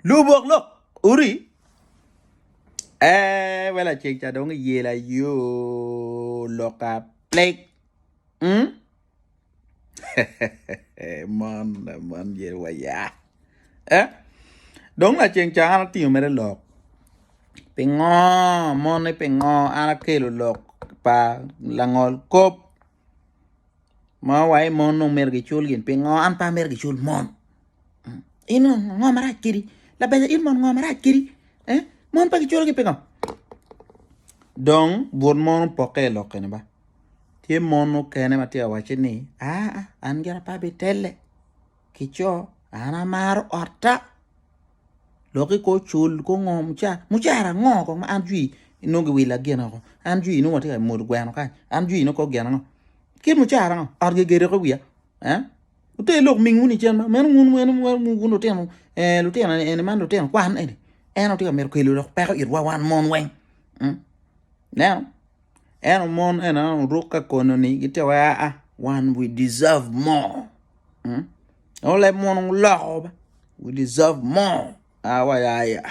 Lubok lok uri ee we laceng ca dong iyela yo loka pleg mm? mon mon yel waya eh? dong laceng ca an atingo mere lok pingo moni pingo an akelo lok pa langol kop ma wa i mon dong myero gicul gin pingo an pe amyero gicul mon in ngo marac kedi labeca in mon ngo marac kedi mon pe giculo gin pingo dong but mon opokke i lok kene ba tye mon mukene matye ka wacci ni aa an gira pe abitelle. ki co an amaro otta lok iko cul ko ngo mucara mucara ango ko ma an jwi inongo gi willa gin oko an jwi inongo atye ka modo gweno kany an jwi inongo kok gin ango kit mucara ango ot gi gedo ki wiya wute lok ming wunu cen ma meno wun wun wun lutino lutino eni man lutino kwan eni en aye tye ka mito kelo lok peko itwa wan mon weng ineno. Ento mon ena oruk ka kono ni gitye wa aa wan we deserve more hmm? Ento leb mono guloko ba we deserve more aa wa ya ya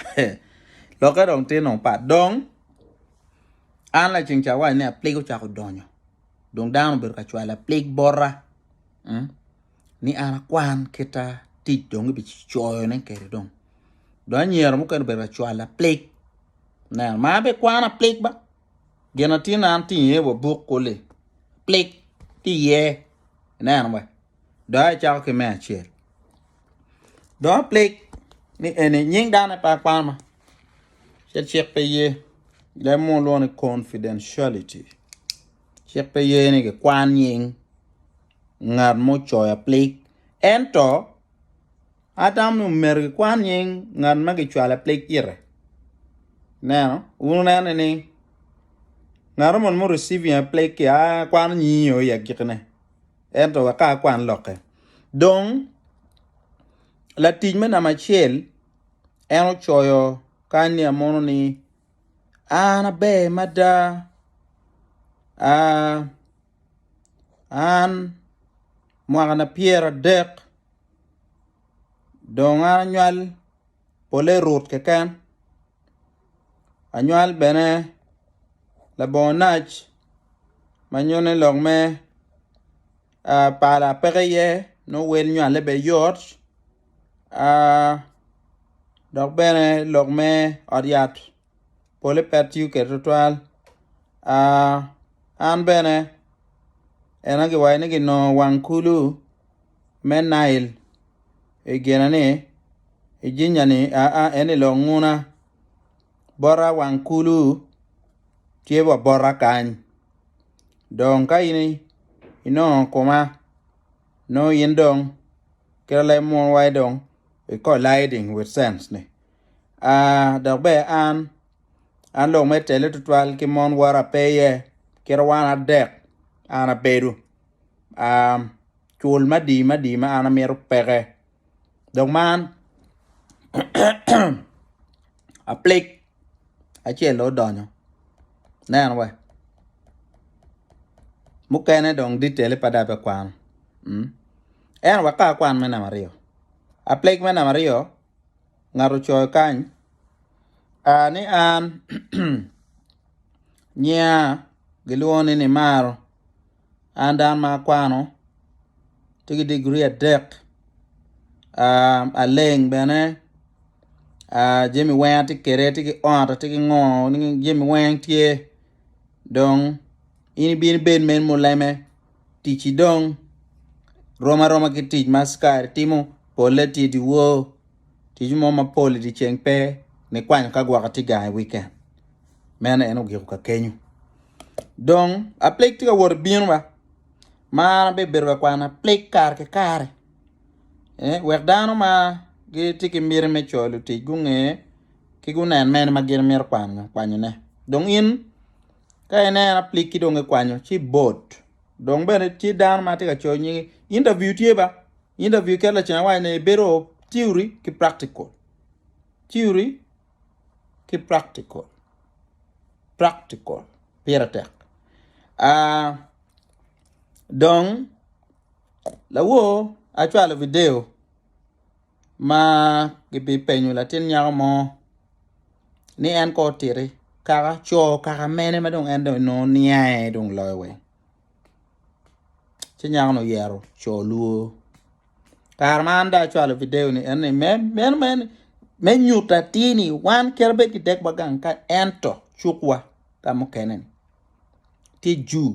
lokke dong tye nongo pat dong an laceng ca awaco ni apleg ocako donyo dong dano obedo ka cwalo apleg bota hmm? ni an akwan kita tic dong kibicoyone kwede dong dong anyira mukene obedo ka cwalo apleg neno ma an bene ikwana apleg ba Gin atin an ti iye wa buk kuli. Plik ti iye. Ineno wa. Doya icako ki me acel. Doya plik ni eni nying dane pa kwama. Cel cik pe ye. Lem mo lwongo ni confidentiality. Cik pe ye ni ki kwan nying ngat mo coya plik. Ento Atamo ni omyero kikwan nying ngat ma kicwalo apleg ite. Ineno? Wun wuneno ni ngat moni ma oriciving apleg-gi akwano nyinge o i agikine ento wek ka akwan lokke. Dong latic me namba acel en ocoyo kany ni amono ni an aber mada. an mwakana pyera dek dong an anywal pole rut keken anywal bene labongo nac ma nyone lok me pala peke iye nongo wel nywale bene yot dok bene lok me ot yat. pole pe atiyo kwede tutwal. Ah, an bene ena giwaco ni ginongo wang kulu me Nail i gina ni i jinya ni aa en i lok nguna bota wang kulu tye wa bota kany. Dong ka in inongo kuma nongo in dong kit alemwa dong iko lighting with sense ni. dok bene an, an lok me tele tutwal ki mon wora pe iye kit wan adek an abedo cul madi madi ma an amito peke dok man aplik acel aye odonyo aneno wa mukene dong detail pe dong abikwano anyway ka akwan me namba aryo aplik me namba aryo. ngat ocoyo kany a ni an nyinga gilwongo ni Nimaro an dano ma akwano tye ki diguri adek aleng bene jami weng atye kwede atye ki ot atye ki ngo jami weng tye dong in ibino ibed meno muleme. ticci dong rom aroma ki tic ma askari timo, polle tye dyewor, tic mo mapol i dyeceng pe, nikwanyo ka gwoko atye gang i wikend. Meno en ogiko kakenyo. Dong aplik tye ka wot bino ba, ma an abibedo ka kwano aplik kare ki kare eh, wek dano ma gitye ki miti me coyo lutic gunge ki gunen mene ma gin mito kwanyone. Dong in Ka ineno aplikki dong ikwanyo ci bot. Dong bene tye dano ma tye ka coyo nyingi. Interview tye ba. Interview ket lacen awaci ni ibedo theory ki practical. Theory ki practical. Practical pire tek. Uh, dong lawor acwalo video. ma gibipenyo latin nyako mo ni en kong otiti kaka co kaka mene ma dong en dong nongo niange dong loyo weng ci nyako ni oyero co luo kare ma an dong acwalo video ni en ni me meno me me nyuto atir ni wan kit ma bed kidekwa gang ka ento cukwa ka mukene ni tye jur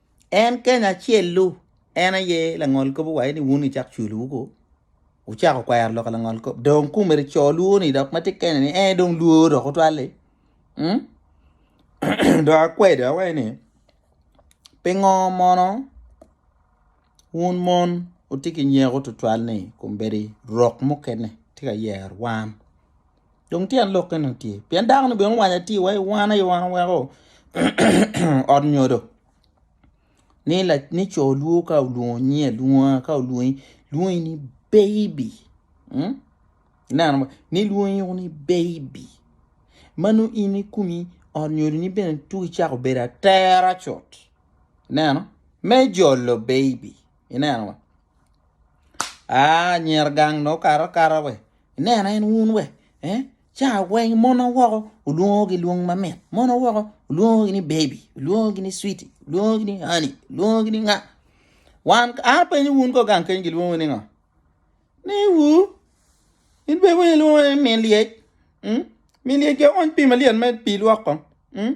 En keny acel-lu, en aye langol kop owaco ni wun icak cwiluwu ko, wucako kwero lok langol kop. Dong kumere co lwoni dok ma tye kene ni en dong lworo dok otwal-li. Mm? dok akwedo awaco ni pingo mono wun mon wutye ki nyeko tutwal ni kombeddi rok mukene tye ka yero wan Dong tyen lok eni tye. Pien dako ni bene owaco atir wa i wan aye wan weko ot nyodo ni co lwo ka olwongi alwonga ka olwongi lwongi ni baby ineno mo ni lwongi woko ni baby ma nongo in i komi ot nyodo ni bene tuku icako bedo atera cut ineno me jolo baby ineno wa anyira gang dong okato akata we. Ineno en wun we? Eh? Ca weng mon awoko olwongo gi lwong ma mit. Mon awoko olwongo gi ni baby, olwongo gi ni sweetie, olwongo gi ni honey, olwongo gi ni nga. Wan a penyo wun ko gang keny gilwongo ni nga? Ni wu in be wun ilwongo ni min lyec. Mm? Min lyec ge ony pi maliet me pi lwok ko. Mm?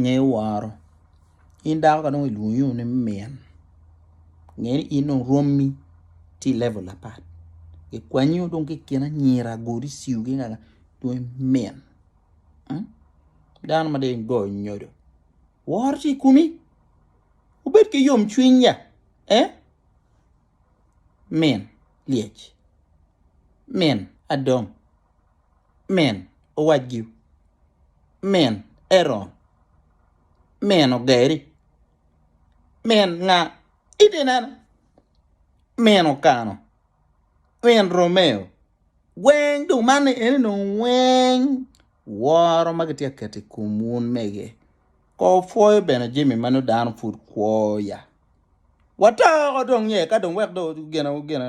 ngeyo woro in dako ka dong ilwongi ni min nge ni in dong romi tye i level apat kikwanyo dong ki i kin anyira agoli ciu ki nganga dong imin dano ma dong igoyo nyodo woro tye i komi wubed ki yom cwiny ya min lyec min adong. Min, owac giu, Min, Eron, Min, Ogeri, Min, Nga itinena, Min, Okano, Min, Romeo, weng dong man ni eni dong weng woro ma gitye ka keto i kom wun mege, ko opwoyo bene jemi ma nongo dano pud kwo ya. Watoko dong ye ka dong wek dong gina gina.